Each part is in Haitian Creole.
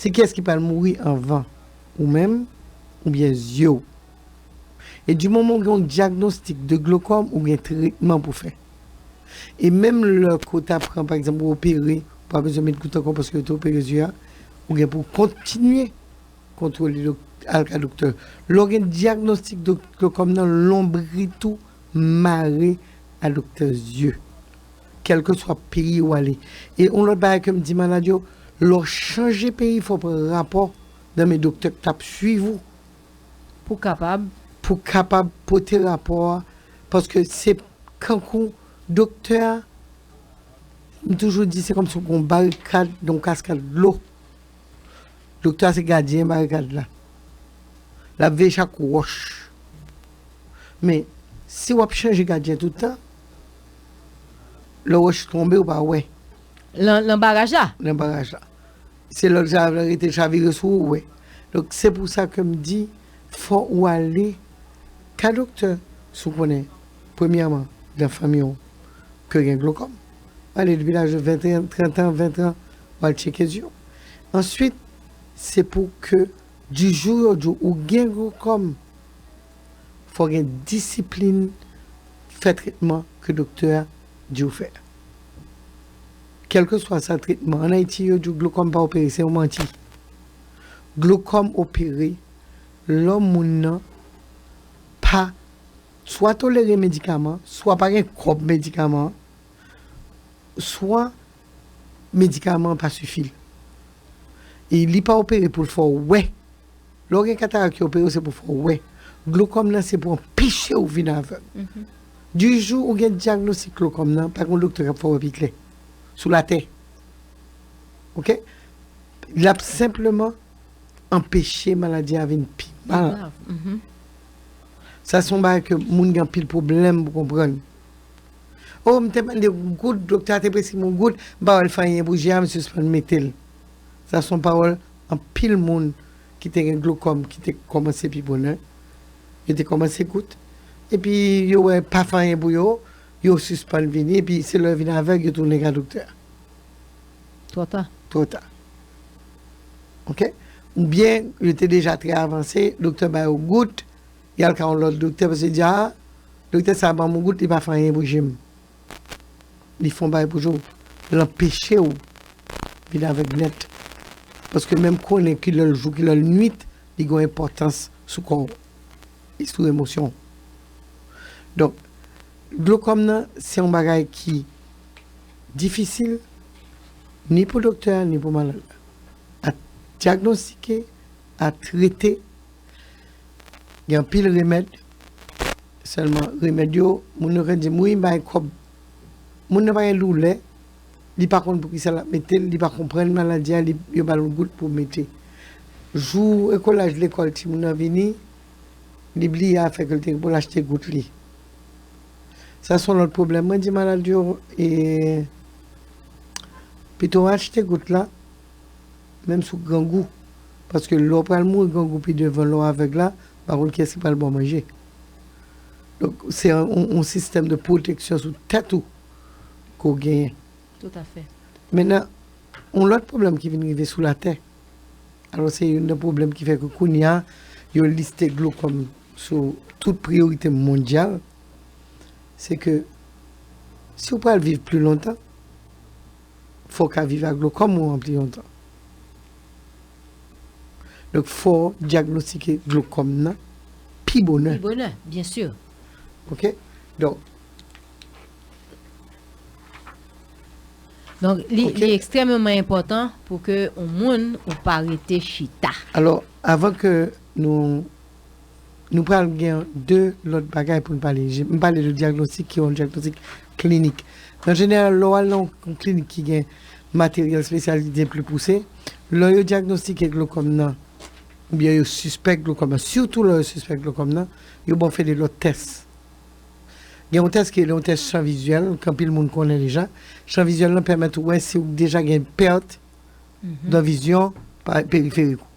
Se kiyès ki pral mouri anvan, ou menm oubyen zye w? E di moman w gen yon dyagnostik de glokòm ou gen tretman pou fè. E menm lè ke w ta pran pa egzanp ou opere, ou pa bezwen met gout ankò paske yo te opere zye a, ou gen pou w kontinye kontwole dok al ka doktè. Lè w gen dyagnostik de glokòm nan lonbrit ou mare a doktè zye. Kèlkeswa peyi ou ale. E yon lòt bagay ke m di malad yo, lè w chanje peyi fò w pran rapò nan men doktè k t ap suiv ou. Pou kapab. Pou w kapab pote rapò a. Paske se kankou doktè a, m toujou di se kòmsi w gen yon barikad nan yon kaskad dlo. Doktè a se gadyen barikad la. L ap veye chak wòch. Men, si w ap chanje gadyen tout tan. Lè wòch tonbe ou pa wè. Lan baraj la? Lan baraj la. Se lè zarav la rete chavire sou ou wè. Donk se pou sa ke m di fò ou ale ka doktè si w konnen premyèman nan fanmi w ke gen glokòm. Ou ale depi laj 21, 30 an, 20 tran ou al tcheke zye w. Answit se pou ke di jou yo di w ou gen glokòm. fò gen disiplin fè tretman ke doktè a di w fè. Kèlkeswa sa tretman, an Ayiti yo di w glokòm pa opere, se yon manti. Glokòm opere lò moun nan pa swa tolere medikaman, swa pa gen kòb medikaman an, swa medikaman an pa sifi l. E li pa opere pou l fè w wè. Lè w gen katarak yo opere w se pou fè w wè. Glokòm nan se pou anpeche w vin avèg. Di jou ou gen dyagnostik glokòm nan, pa gen yon doktè k ap fè w wè pi klè sou latè. Ok. L ap senpleman anpeche maladi a vin pi mal. Sa se yon bagay ke moun gen anpil pwoblèm pou konprann. Oh m te mande yon goud doktè a te presi m yon goud m pa wèl fè anyen pou je a m sispann metel sa son pawòl anpil moun ki te gen glokòm ki te kòmanse pi bonè yo te kòmanse gout epi yo wè pa fè anyen pou yo yo sispann vini epi se lè yo vin avèg yo tounen ka doktè a Twò ta. twò ta ok oubyen yo te deja trè avanse doktè ba yo gout Li al ka yon lòt doktè paske li di aa doktè sa banm yon gout li pa fè anyen pou jem. Li fon bagay pou je w. L anpeche w vin avèg nèt. Paske menm konnen ki lè l jou ki lè l nwit li gen yon enpòtans sou kò w e sou emosyon w. Donk glokòm nan se yon bagay ki difisil ni pou doktè a ni pou malad la a dyagnostike, a trete. Gen anpil remèd, sèlman remèd yo, moun yo gen di m wi m bay kòb. Moun nan pa gen doulè, li pa konn poukisa l ap mete l, li pa konprann maladi a, yo ba l yon gout pou mete. Jou ekolaj lekòl timoun nan vini, li bliye afè ke l te gen pou l achte gout li. Sa se yon lòt pwoblèm. Mwen di malad yo, pito achte gout la. Menm sou grangou. Paske lè w pral mouri grangou pi devan lè w avèg la, m pa konn kiyès ki pral ba w manje. Donk se yon sistèm de pwoteksyon sou tèt ou ke w genyen. Toutafè. Mennen, yon lòt pwoblèm ki vin rive sou latè, alò se youn nan pwoblèm ki fè ke kounye a yo liste dlo kòm sou tout priyorite mondyal, se ke si w pral viv pli lontan, Fò w ka viv ak glokòm ou anpli yon tan. Donk fò w dyagnostike glokòm nan pi bonè. Pi bonè, byen si. Ok, donk. Donk li ekstrèmeman enpòtan pou ke yon moun ou pa rete chita. Alò, avan ke nou Nou pral gen 2 lòt bagay pou n pale. M pale de dyagnostik ki yon dyagnostik klinik. An jeneral, lè w al nan yon klinik ki gen materyèl spesyalize pli pouse, lè yo dyagnostike glokòm nan, oubyen yo sispèk glokòm nan, sitou lè yo sispèk glokòm nan, yo ba w fè 2 lòt tès. Gen yon tès ki rele yon tès chan vizyèl, ke anpil moun konnen deja. Chan vizyèl lan pèmèt ou wè si ou deja gen pèt dan vizyon periferik ou.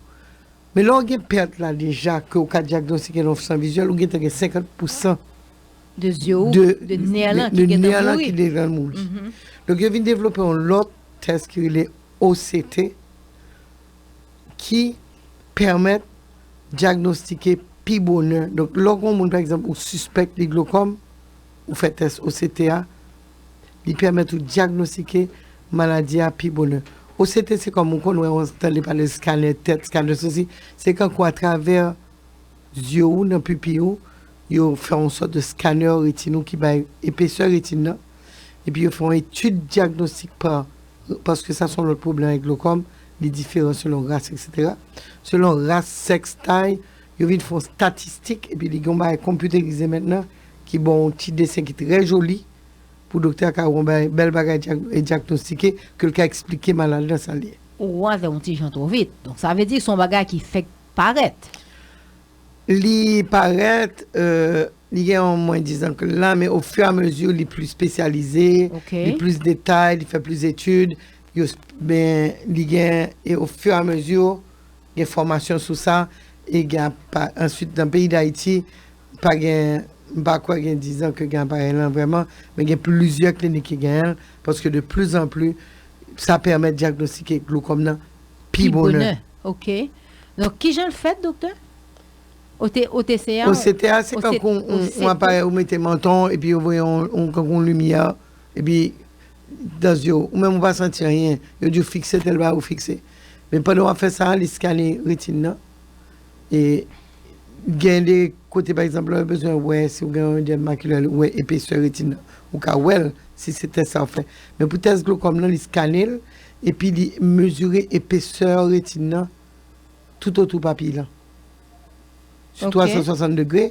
Men lè w gen pèt la deja ke w ka dyagnostike nan ofsan vizyèl, ou gentan gen 50 pousan de zye w, de nè lan ki gentan mouri. Donk yo vin devlope yon lòt tès ki rele OCT ki pèmèt dyagnostike pi bonè. Donk lè w gen yon moun pa egzanp ou sispèk li glokòm, ou fè tès OCT a, Li pèmèt ou dyagnostike maladi a pi bonè. OCT se kòm ou konn wè yon tande pale skanè tèt, skanè sosi, se kankou atravè zye ou nan pipiy ou yo fè yon sòt de skanè retin ou ki bay epesè retin nan epi yo fè yon etid dyagnostik pa paske sa se yon lòt pwoblèm avèk glokòm li diferan selon ras eksetera selon ras, sèks, tay yo vin fè yon statistik epi li gen yon bagay konpyoterize mètnan Ki ba w yon ti desen ki trè joli pou doktè a ka wè yon bagay, bèl bagay dyagnostike, ke l ka eksplike malad lan sa l ye. Ou wè yon ti jan twò vit. Donk sa vle di se yon bagay ki fèk parèt. Li parèt, li gen yon mwen dizan ke l la, men ofiramezi li plis spesyalize, li plis detay, li fè plis etid, yo, men li gen, e ofiramezi. Gen fòmasyon sou sa e gen apa. Answit nan peyi Dayiti pa gen, m pa kwè gen dizan ke gen aparèy lan vrèman, men gen plizyè klinik ki genyen l paske de pli zan pli sa pèmèt dyagnostike glokòm nan pi bonè. Ok. Donk kijan l fèt doktè? OCT a. OCT a se tankou yon aparèy ou mete manton w epi yo voye yon tankou yon limyè epi dan zye w, ou menm ou pa santi anyen, yo di w fikse tèl bagay ou fikse. Men pandan wap fè sa, li skane retin nan. E gen de kote pa egzanp lè yo bezwen wè si ou gen yon edèm makilè, ou wè epesè retin nan. Ou ka wè l si se tès sa ou fè. Men pou tès glokòm nan, li skane l epi li mezire epesè retin nan toutotou papiy lan. Sou 360 degre.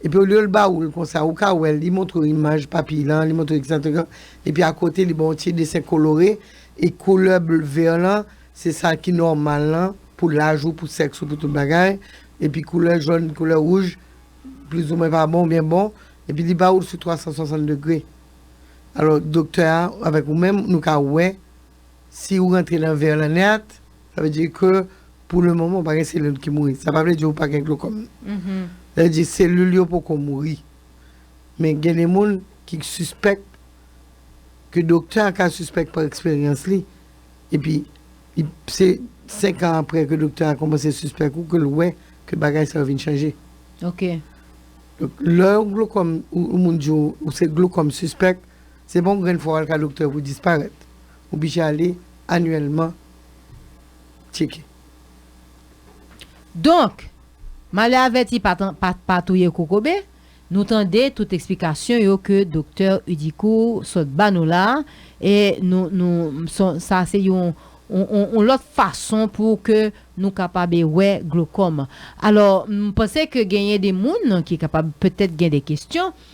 Epi olye l ba ou l konsa, ou ka wè l, li montre w imaj papiy lan, li montre w ekzanp. Epi akote li ba w yon ti desen kolore. E koulè ble vè lan, se sa ki nòmal lan pou laj ou, pou sèks ou, pou tout bagay. Epi koulè jòn, koulè wouj, plizoumwen pa bon oubyen bon. Epi li ba ou l sou 360 degre. Alò doktè a avèk ou menm nou ka wè Si ou rantre nan vè lanèt, sa vle di ke pou le moman ou pa gen selil ki mouri. Sa pa vle di ou pa gen glokòm. Sa vle di selil yo poko mouri. Men gen de moun ki sispèk, ke doktè a ka sispèk pa eksperyans li, epi se 5 an apre ke doktè a kòmanse sispèk ou ke l wè ke bagay sa yo vin chanje. Ok. Donk lè yon glokòm, yon moun di ou se glokòm sispèk. Se pa yon grenn fwa w al ka doktè pou disparèt. Ou bije ale anyèlman tcheke. Donk, malè avèti pa pa touye kokobe, nou tande tout eksplikasyon yo ke doktè Hudicourt sot ba nou la a, e nou nou sa se yon yon lòt fason pou ke nou kapab e wè glokòm. Alò, m panse ke genyen de moun ki kapab petèt gen de kesyon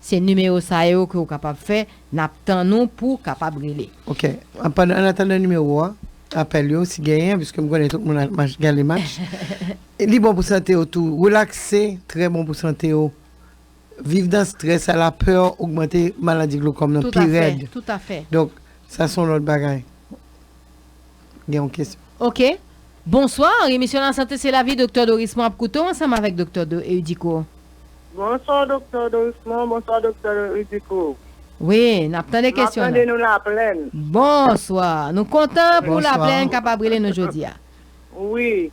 Se nimewo sa yo ke ou kapab fè, n ap tann ou pou w kapab rele. Ok, pandan, an atandan nimewo a, apèl yo, si genyen, piske m konnen tout moun al mach, gade mach, li bon pou sante yo tou. Relakse trè bon pou sante yo. Viv dan strès a, la peur ogmante maladi glokòm nan pi rèd. Tout afè, tout afè. Donk, sa son lòt bagay. gen yon kesyon. Ok. Bonsoir, emisyon la sante se lavi Doktè Dorismond ap koute w ansanm avèk Doktè Eudico. Bonsoir Doktè Dorismond, bonsoir Doktè Eudico. Wi, n ap tande kesyon nan. N ap tande nou Laplèn. Bonsoir. Nou kontan pou Laplèn kapab rele nou jodi a. Wi.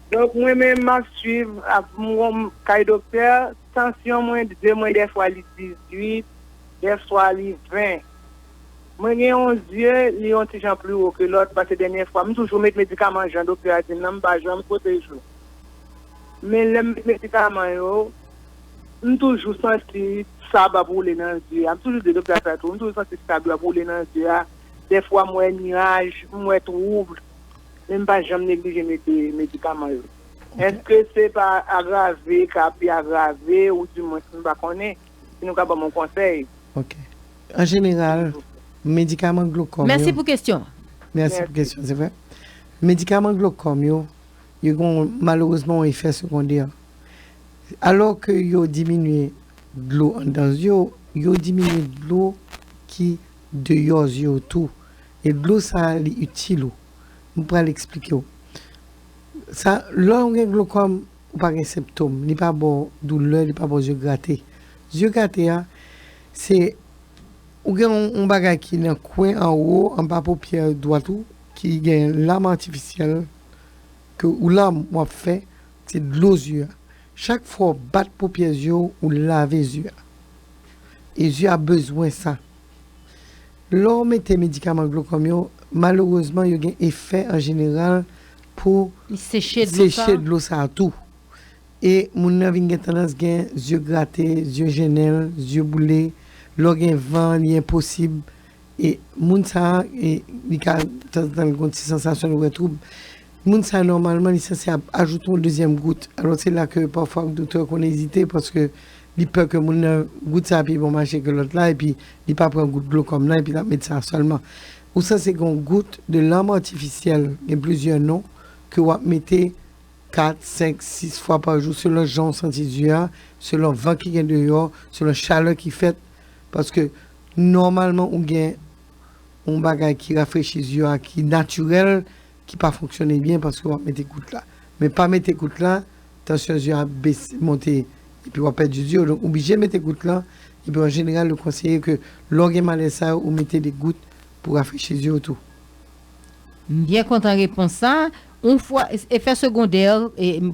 Donk mwen menm m ap swiv ap m wonm kay doktè, tansyon mwen de mwen dèfwa li 18, dèfwa li 20. Mwen gen yon zye li yon ti jan pli wo ke lòt pase dènyè fwa m toujou met medikaman jan doktè a di m nan m pa janm kote jou men lè m met medikaman yo m toujou santi sab ap woule nan zye a m toujou di doktè a sa tou m toujou santi sab yo ap woule nan zye a dèfwa m wè nuaj m wè trouble men m pa janm neglije mete medikaman yo èske se pa agrave ka pi agrave ou di mwens m pa konnen. Si nou ka banm yon konsèy. Ok. An jeneral, medikaman glokòm yo. Mèsi pou kesyon an. Mèsi pou kesyon, se vre. Medikaman glokòm yo, yo gen yon, malerezman, yon efè segondè. Alò ke yo diminye dlo anndan zye w, yo diminye dlo ki deyò zye w tou. E dlo sa a, li itil ou. M pral eksplike w. Sa, lè ou gen glokòm, Ou pa gen senptom. Li pa baw doulè, li pa baw zye grate. Zye grate a, se ou gen yon bagay ki nan kwen anwo, anba popyè dwat ou, ki gen lam atifisyèl, ke ou lam wap fè, se dlo zye a. Chak fwa ou bat popyè zye ou, ou lave zye a. E zye a bezwen sa. Lè w mete medikaman glokòm yo, malerezman yo gen efè an jeneral pou seche dlo sa a tou. E moun nan vin gen tandans gen zye grate, zye jennen l, zye boule, lò gen van li enposib e moun sa a li ka tanzantan li gon ti sansasyon li wè twoub. Moun sa nòmalman li sanse ap ajoute yon dezyèm gout, alò se la ke pafwa doktè konn ezite paske Li pè ke moun nan, gout sa pi bon mache ke lòt la epi li pa pran gout dlo kòm nan epi lap met sa sèlman. Ou sanse gen yon gout de lanm atifisyèl, gen plizyè non, ke wap mete 4, 5, 6 fwa pa jou selon jan ou santi di a, selon van ki gen deyò, selon chalè ki fèt. Paske nòmalman ou gen yon bagay ki rafrechi di a ki natirèl ki pa fonksyone byen paske wap mete kout la men pa mete kout la tansyon zye ap bese monte epi wap pèdi zye yo donk ou bije mete kout la epi an jeneral yo konseye ke lè w gen malèz sa yo ou mete de gout pou rafrechi zye w tou. M byen kontan repons sa. Yon fwa efè segondè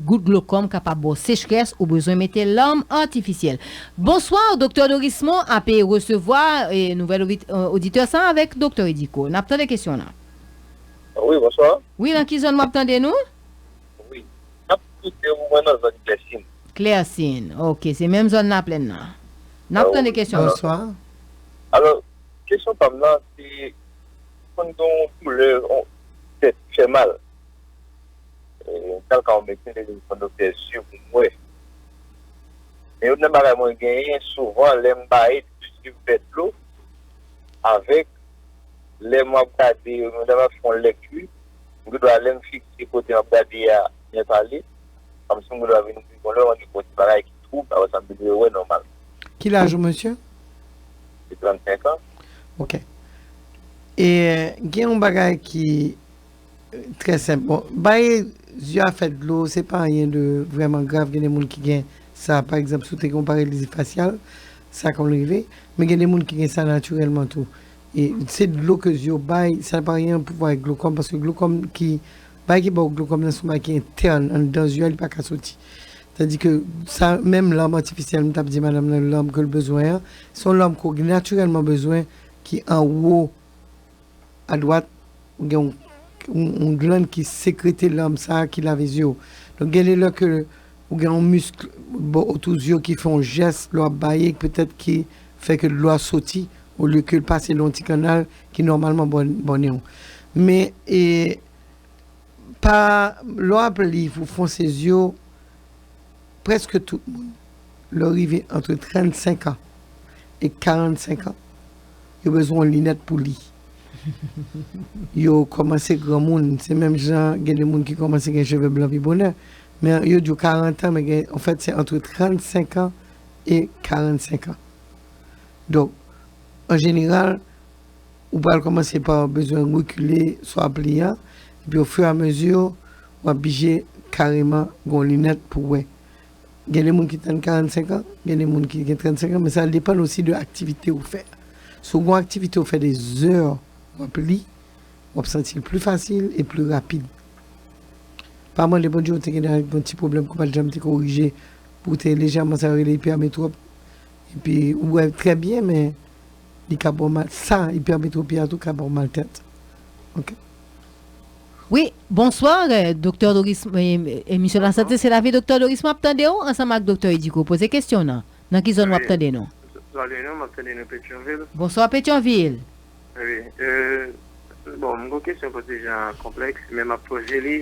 gout glokòm kapab ba w sechrès ou bezwen mete larm artificiel. Bonsoir Doktè Dorismond ape resevwa nouvel oditè sa avèk Doktè Ediko. Nap tande kesyon w lan. Wi bonswa. Wi nan ki zòn wap tande nou? Wi map koute ou mwen nan zòn klèsin. Klèsin ok se menm zòn laplèn nan nap tande kesyon an. Bonswa alò kesyon pam nan se konn gen yon doulè yon tèt ki fè mal mwen tal ka yon medsen li dim fon doktè zye pou m wè men yon nan bagay mwen genyen souvan lèm baye m toujou vè dlo avèk lè mwen ap gade yo nou ta va fon lèkti m gen dwa lèm fikse kote map gade a byen pale kòmsi m gen dwa vin di bon lè mwen gen bon ti bagay ki twoub aprè sa m vin re wè nòmal. Ki laj ou mesye? Gen 35 ans. Ok. E gen yon bagay ki. Trè senp bon baye zye a fè dlo se pa anyen de vrèman grav gen de moun ki gen sa pa egzanp si w te gen yon paralizi fasyal sa konn rive men gen de moun ki gen sa natirèlman tou e se dlo ke zye w bay sa pa anyen an pouvwa ak glokòm paske glokòm ki bagay ki ba w glokòm nan se yon bagay ki entèn anndan zye a li pa ka soti tadi ke sa menm lanm atifisyèl m t ap di madanm nan lanm ke l bezwen an se yon lanm ke w gen natirèlman bezwen ki anwo a dwat ou gen yon glann ki sekrete larm sa ki lave zye w. Donk gen de lè ke ou gen yon misk bò otou zye w ki fè yon jès lè w ap baye petèt ki fè ke dlo a soti olye ke l pase lan yon ti kannal ki nòmalman bò nen w. Men e pa lè w ap li pou fonse zye w prèske tout moun lè w rive antre 35 an e 45 an. Yo bezwen yon linèt pou li. Yo kòmanse granmoun. Se menm jan gen de moun ki kòmanse gen cheve blan pi bonè. Men yo di w 40 an, men gen, an fèt se antre 35 an e 45 an. Donk, an jeneral, ou pral kòmanse pa bezwen rekile swa pliyan, epi ofiramezi, w ap bije kareman gen yon linèt pou wè. Gen de moun ki tann 45 an, gen de moun ki gen 35 an, men sa depann osi de aktivite ou fè. Si w gon aktivite ou fè de zè w ap li, w ap santi l pli fasil e pli rapid. Pa mande Bondye ou te gen yon ti pwoblèm ki w pa t janm te korije, ou te lejèman sa yo rele ipèmetwòp, epi ou wè trè byen men li ka ba w mal, sa, ipèmetwopi a tou ka ba w maltèt. Ok. Wi, bonsoir Doktè Doris emisyon la sante se lavi Doktè Doris map tande ou ansanm ak Doktè Edico poze kesyon nan, nan ki zòn wap tande nou? Salut nou map tande nou Petyonvil. Bonsoir Petyonvil. Wi euh bon m gon kesyon poze jan konplèks men map poze li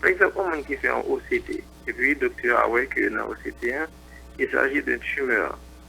pa egzanp yon moun ki fè yon OCT epi doktè a wè ke nan OCT an il s'agit d'un tumeur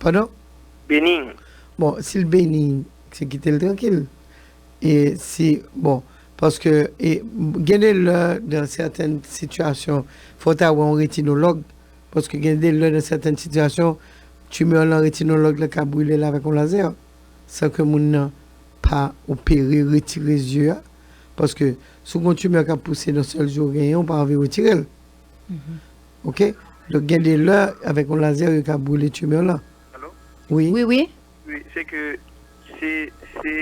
Pardon? Bening. Bon sil bening se kitel trankil e si bon paske e gen de lè dan sèten sitiyasyon fò ta wè yon retinològ paske gen de lè dan sèten sitiyasyon tumeur lan retinològ la ka brilel avèk yon lazè san ke moun nan pa opere retire zye a paske sou gen yon tumeur kap pouse nan sèl zye ou genyen ou pa anvi retirel. Ok Donk gen de lè avèk yon lazè yo ka brile tumeur lan. Alo? Wi. Wi wi. Wi se ke se se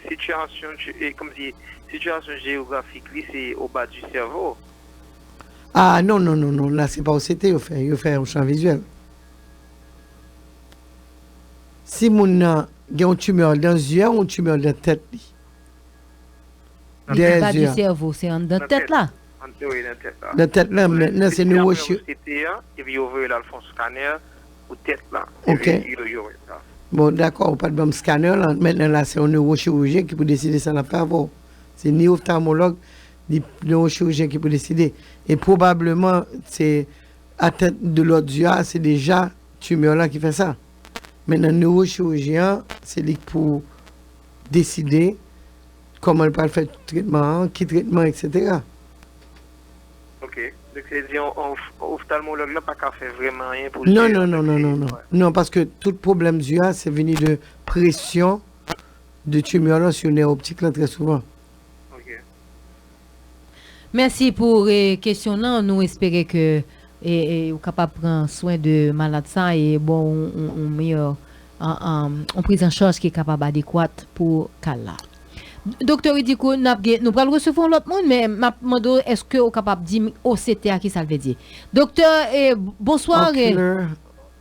sitiyasyon e kòm si sitiyasyon jeyografik li se o ba di sèvo. A non non non non la se pa OCT yo fè yo fè yon chan vizyèl. Si moun nan gen yon tumeur dan zye a ou yon tumeur dan tèt li. Li se pa di sèvo se anndan tèt la. Antre nan tèt la. Nan tèt lan men nan se nou wè chir. Yo fè yon CT epi yo voye l al fon scanner pou tèt la. Ok. Epi yo yo wè sa. Bon dakò ou pat banm scanner lan mentnan la se yon newochirijyen ki pou deside sa lap fè avè w. Se ni oftalmològ ni newochirijyen ki pou deside. E pwobableman se attent de lòdyè a se deja tumeur lan ki fè sa. Mentnan newochirijyen an se li k pou deside. Kòman l pral fè tretman an, ki tretman eksetera. Ok, dok se di oftalmològ la pa ka fè vrèman anyen pou zye a. Non, non, non, non, non paske tout pwoblèm zye a se vini de presyon de tumeur lan sou nè optik lan trè souvan. Ok. Mèsi pou kesyon lan, nou espere ke ou kapab pran swen de malad sa e baw yon meyè yon priz an chaj ki kapab adekwat pou ka l la. Doktè Rudy Koen nap gen, nou pral resevwa yon lòt moun men map mande w eske ou kapab di m OCT a kisa l vle di. Doktè, bonswa.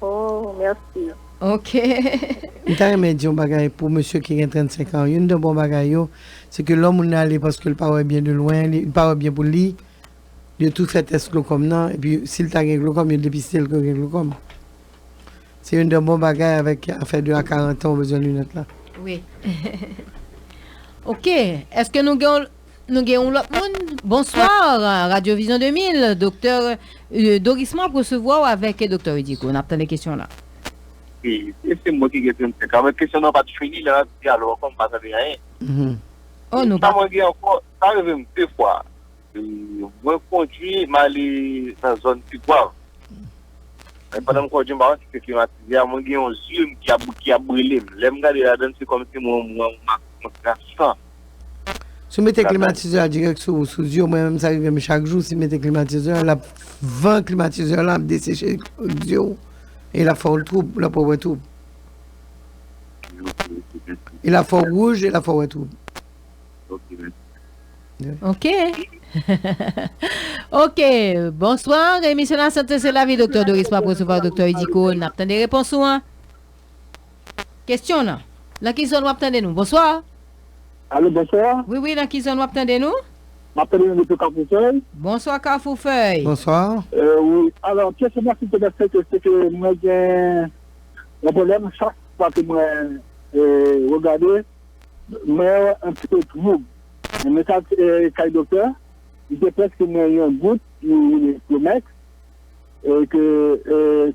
Oh merci. Ok. M ta renmen di yon bagay pou mesye ki gen 35 ans youn dan bon bagay yo se ke lò moun nan ale paske l pa wè byen de lwen li pa wè byen pou li yo tou fè tès glokòm nan epi si l ta gen glokòm yo depiste l ke l gen glokòm se youn dan bon bagay avèk afè de a 40 ans ou bezwen lunèt la. Wi. Ok, eske nou gen yon Nou gen yon lòt moun. Bonsoir Radio Vision 2000, Doktè Doris mwen ap resevwa ou avèk Doktè Redico. Nap tande kesyon la. Wi, se mwen ki gen 35 an men kesyon nan pat fini lè nap di alo ankò m pa tande anyen. Sa mwen gen ankò, sa rive m 2 fwa. Mwen kondwi m ale nan zòn Tigwav. Men pandan m kondwi m pa konn si se klimatize a, mwen gen yon zye m ki ap brele m. Lè m gade ladan se kòmsi mwen wè yon mak nan san. Si w mete klimatizè a dirèk sou di yo, mwen menm sa rive m chak jou, si m mete klimatizè a, lap van klimatizè a lan ap deseche di yo, e lap fè w twoub, lap fè w wè twoub. E lap fè w wouj, e lap fè w wè twoub. Ok. Ok, bonswa, emisyon la sante se lavi, Doktè Doris, m ap resevwa Doktè Idigo, n ap tande repons ou an. Kesyon nan. Nan ki zòn wap tande nou? Bonsoir. Allo bonsoir. Wi wi nan ki zòn wap tande nou? Map tande nou depi kafou fèy. Bonsoir kafou fèy. Bonsoir. Wi alò kesyon mwen sil te plè se ke se ke mwen gen yon pwoblèm chak fwa ke mwen regade mwen wè yon ti peu twoub mwen ta kay doktè li te preske mwen yon gout ki rele Flomex e ke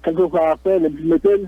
kelke fwa aprè lèm fin metel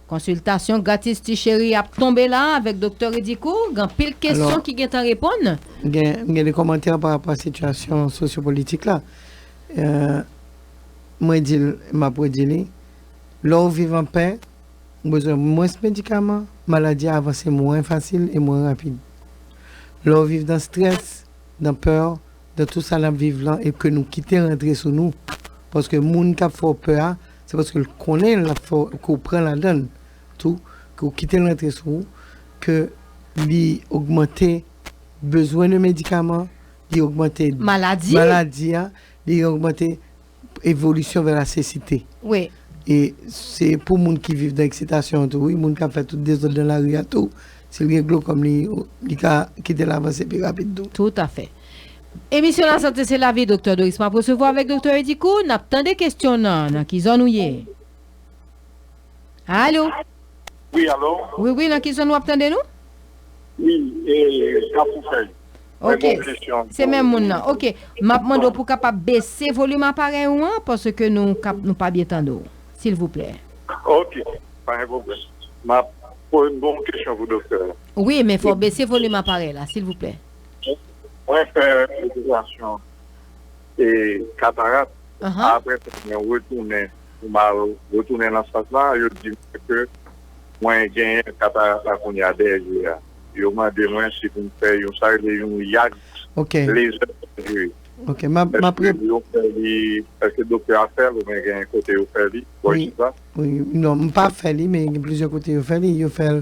Konsiltasyon gratis ti cheri ap tonbe la avèk Doktè Ridicourt, gen anpil kesyon ki gentan reponn. Gen m gen de kòmantè pa rapò a sitiyasyon sosyo politik la mwen di l e m ap redi li lè w viv an pè ou bezwen mwens medikaman maladi a avanse mwen fasil e mwen rapid lè w viv dan strès dan pè dan tou sa n ap viv lan e ke nou kite rantre sou nou paske moun k ap fè w pè a Se paske l konnen l ap fè w, ke w pran ladan l tou, ke w kite l rantre sou ou, ke li ogmante bezwen de medikaman, li ogmante maladi a, li ogmante evolisyon vè la sesite. E se pou moun ki viv nan eksitasyon an tou wi, moun k ap fè tout dezòd nan lari a tou, si l gen glokòm li ka kite l avanse pi rapid tou. Toutafè. Emisyon la sante se lavi Doktè Doris map resevwa avèk Doktè Eddy Kou nap tande kesyon nan nan ki zòn ou ye Alo Wi alo Wi wi nan ki zòn wap tande nou Wi e kafou fèy Mwen gen yon kesyon Ok se menm moun nan ok map mande w pou kapab bese volim aparèy ou an paske nou kap nou pa byen tande w silvouplè Ok pa gen pwoblèm map mwen gen yon kesyon pou doktè Wi men fò w bese volim aparèy la silvouplè. Mwen fè operasyon katarat apre sa mwen retounen pou m al retounen nan sant la yo di mwen ke mwen genyen katarat la kounye a dèyè je a yo mande mwen si pou m fè yon sa yo rele yon yag lezè sèjiri eske doktè a fè l oubyen gen yon kote yo fè li non m pa fè li men gen plizyè kote yo fè li yo fè l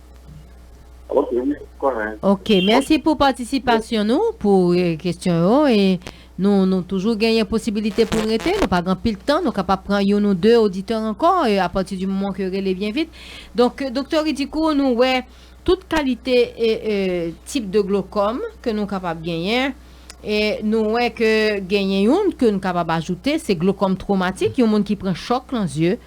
Ok wi konnen. Ok mèsi pou patisipasyon nou pou kesyon yo e nou nou toujou genyen posibilite pou rete nou pa gan pil tan nou kapap pran yon nou de oditè ankò e apati di moman ke rele byen vit donk doktè Ridikou nou wè tout kalite e e tip de glokòm ke nou kapab genyen e nou wè ke genyen yon ke nou kapab ajoute se glokòm twomatik yon moun ki pran chòk lan zye.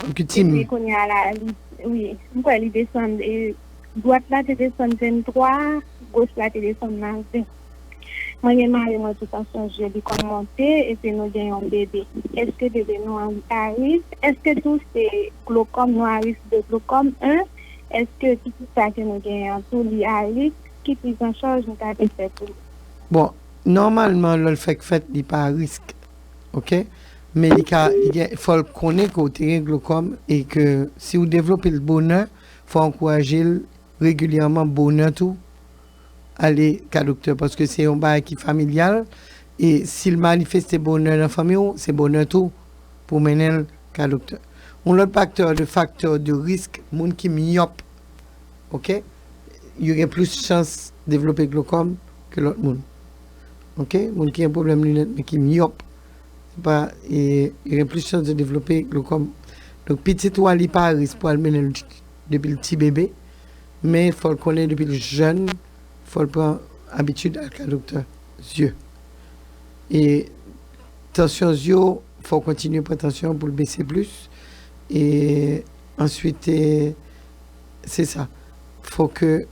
Epi kounye a la, wi, m kwè li desann, dwat la te desann 23, goch la te desann nan 20. Mwen gen mari mwen ki pa sonje li konn monte epi nou gen yon bebe. Èske bebe nou an aris? Èske tou se glokòm nou aris de glokòm 1? Èske pitit sa ke nou genyen an tou li aris? Ki prizanchaj nou ta dwe fè pou li? Bon, nòmalman lò l fèk fèt li pa aris. ok men li ka li gen fòl konnen ke w te gen glokòm e ke si w devlope l bonè fò w ankouraje l regilyèman bonè tou ale ka doktè paske se yon bagay ki familyal e si l manifeste bonè nan fanmi w se bonè tou pou w mennen l ka doktè yon lòt paktè de faktè de risk moun ki myòp ok yo gen plis chans devlope glokòm ke lòt moun. Ok moun ki gen pwoblèm lunèt men ki myòp se pa yo gen plis chans de devlope glokòm donk pitit ou a li pa risk pou al mennenl depil ti bebe men fòl konnen depil jèn fòl pran abitid al ka doktè zye e tansyon zye w fòw kontinye pran tansyon an poul bese plis e answit se sa fò ke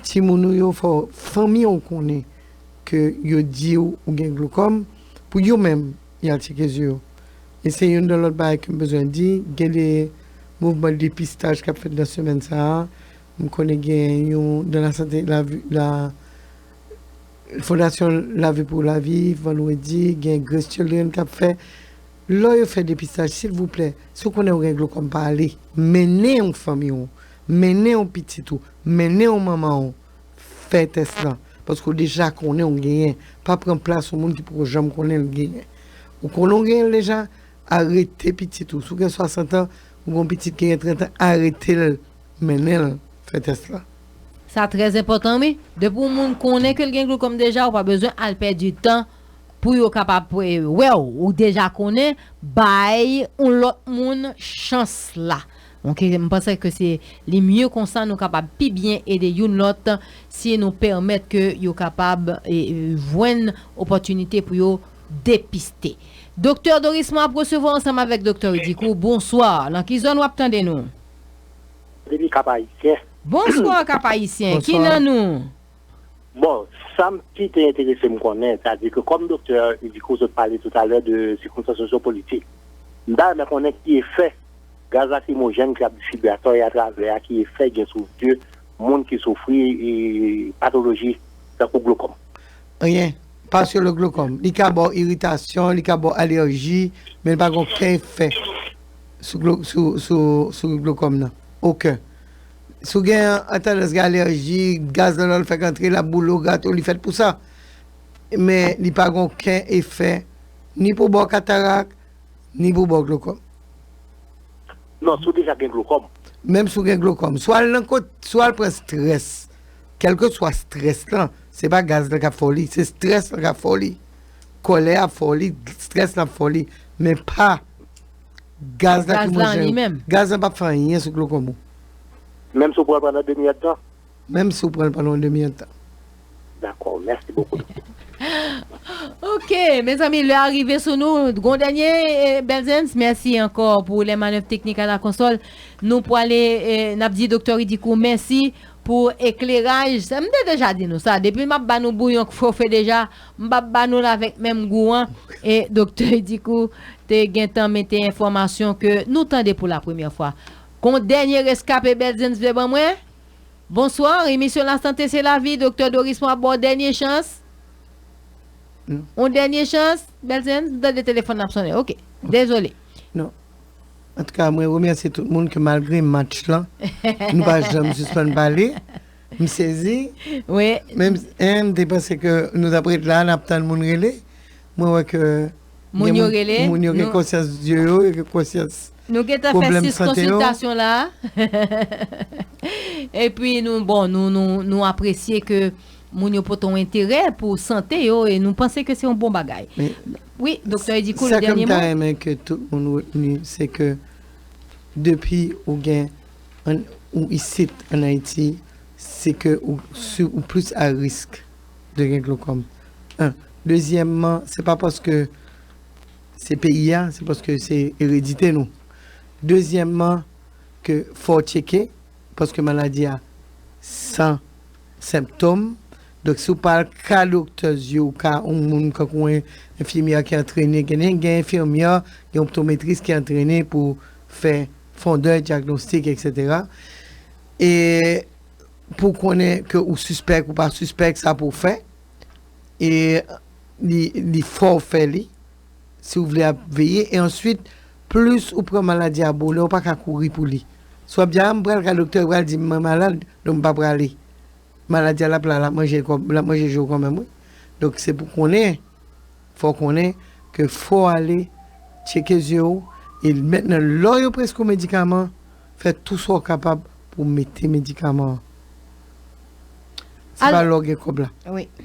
timoun ou yo fò fanmi an konnen ke yo diw ou gen glokòm pou yo menm yal tcheke zye yo e se youn dan lòt bagay kem bezwen di gen de mouvman depistaj kap fèt nan semèn sa a m konnen gen yon dan la sante la fondasyon lavi pou lavi vandredi gen grace children kap fè lò yo fè depistaj silvouplè si w konnen ou gen glokòm pa ale mennen yon fanmiy ou mennen yon pitit ou mennen yon manman ou. Fè tès lan paske ou deja konnen ou genyen, pa pran plas yon moun ki poko janm konnen li genyen. Ou konnen ou genyen l deja, arete pitit ou. Si w gen 60 an, ou gen yon pitit ki gen 30 an, arete l mennen l fè tès lan. Sa trè enpòtan wi. Depi yon moun konnen ke l gen glokòm deja, ou pa bezwen al pèdi tan pou yo kapab wè w. Ou deja konnen, bay yon lòt moun chans la. Ok m panse ke se li mye konsa nou kapab pi byen ede youn lòt si nou pèmèt ke yo kapab jwenn opòtinite pou yo depiste. Doktè Doris mwen ap resevwa ansanm avèk Doktè Rudy kou bonswa nan ki zòn wap tande nou? Depi kap ayisyen. Bonswa kap ayisyen ki nan nou? Bon, sa m pi te enterese m konnen, sa di ke kòm doktè mediko sot pale toutalè de sikonstans sosyopolitik, m ta renmen konnen ki efè gaz lakrimojèn ki ap distribye atò e atravè a, ki efè li gen sou zye moun ki soufri patoloji tankou glokòm? Anyen, pa sou le glokòm. Li ka ba w iritasyon, li ka ba w alèji, men li pa gen oken efè sou glokòm nan. Oken. Si w gen an tandans gen alèji, gaz nan lò l fèk antre, l ap boule w, grate w, li fèt pou sa. Men li pa gen oken efè ni pou ba w katarak, ni pou ba w glokòm. Non, si w deja gen glokòm. Menm si w gen glokòm. Si w al nan kot, si w al pran strès, kèlkeswa strès lan, se pa gaz lan k ap fè w li, se strès lan k ap fè w li. Kòlè a ap fè w li, strès lan ap fè w li, men pa. Gaz la ki manje yo. Gaz la pap fè anyen sou klo konbo. Menm si w pran l pandan demi èd tan? Menm si w pran l pandan yon demi èd tan. Dakò, mèsi bokou doktè. Ok, mezanmi lè a rive sou nou. Gon dènye Belzens? Mèsi ankò pou lè manèv teknik a la konsòl. Nou pwale, n ap di doktè Ridikou mèsi pou ekleraj. M te deja di nou sa, depi m ap ba nou bouyon k fofe deja. M pap ba nou l avèk menm gou an, e Doktè Dikou te gentan mete enfòmasyon ke nou tande pou la premyè fwa. Gon dènye reskape Belzins vle ban mwen? Bonsoir, emisyon la sante se lavi, Doktè Doris mwen ap ba w dènye chans. On dènye chans, Belzins? M tande telefòn nan ap sonnen, ok. Dezole. Non. Antouka mwen remèsye tout moun ke malgre match lan, nou pa janm sispann pale. M sezi. Wi. Menm si em te panse ke nou tap ret la nap tann moun rele. Mwen wè ke Moun yo rele. Gen moun yo gen konsyans dye yo, yo gen konsyans pwoblèm sante yo. Nou gentan fè 6 konsiltasyon la. Epi nou bon nou apresye ke moun yo pote yon enterè pou sante yo e nou panse ke se yon bon bagay. Wi Doktè Eddy Cool dènye mo. Sa ke m ta renmen ke tout moun retni se ke depi ou gen An ou isit an Ayiti, se ke ou si ou plis a risk de gen glokòm. 1, dezyèmman se pa paske se peyi a, se paske se eredite nou. Dezyèmman ke fò w tcheke paske maladi a san senptom, donk si w pa al ka doktè zye ou ka yon moun kankou yon enfimyè ki antrene, gen gen enfimyè, gen optometris ki antrene pou fè. Fondè, diagnostic etc. E pou konnen ke ou sispèk ou pa sispèk sa pou w fè. E li fò w fè li. Si w vle ap veye. E answit plis ou pran maladi a bonè ou pa ka kouri pou li. Si w ap di a m pral ka doktè yo pral di m mwen malad donk m pa prale. Maladi a l ap la l ap manje je w kanmenm wi. Donk se pou konnen. Fò w konnen ke fò w ale tcheke zye w e mèt nan lò yo prèske w medikaman, fè tou sa w kapab pou w mete medikaman an. Se pa lè w gen kòb la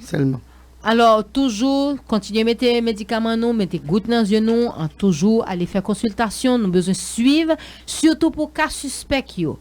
sèlman. Alò, toujou kontinye mete medikaman nou, mete gout nan zye nou, toujou ale fè konsiltasyon, nou bezwen swiv, sitou pou ka sispèk yo.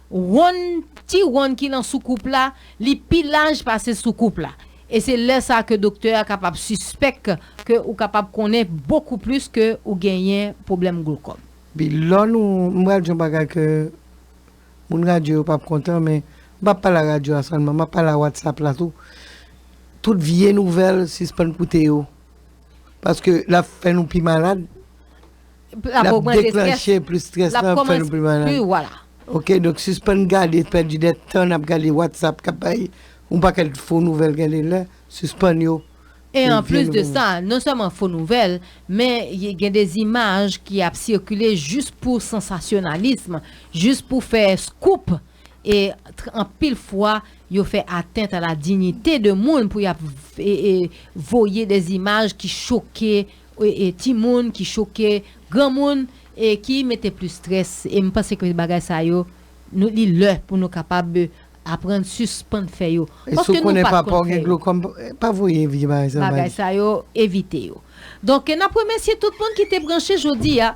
Wonn, ti wonn ki lan soukoup la, li pi laj pase soukoup la. E se lè sa ke doktè a kapab sispèk ke ou kapab konnen bokou plis ke ou genyen pwoblèm glokòm. Bi lò nou, m pral di yon bagay ke moun radyo yo pap kontan men, m pap pale a radyo a sèlman, map pale a WhatsApp la tou. Tout vye nouvèl sispann koute yo. Paske lap fè nou pi malad. L ap deklanche plis strès lan, l ap fè nou pi malad. Ok, donk sispann gade, pèdi de tan n ap gade Whatsapp k ap bay yon pakèt fo nouvèl gen de lè, sispann yo. E an plis de sa, non sèlman fo nouvèl, men gen de zimaj ki ap sikile jis pou sansasyonalism, jis pou fè scoop e anpil fwa yo fè atent a la dignite de moun pou y ap voye de zimaj ki choke. e timoun ki choke, granmoun e ki mete plis strès e m panse ke bagay sa yo nou li lè pou nou kapab aprann sispann fè yo E si w paske nou konnen pat papa w konn gen fè yo. glokòm pa voye evye bagay sa yo ba bagay li. sa yo evite yo. Donk n ap remèsye tout moun ki te branche jodi a.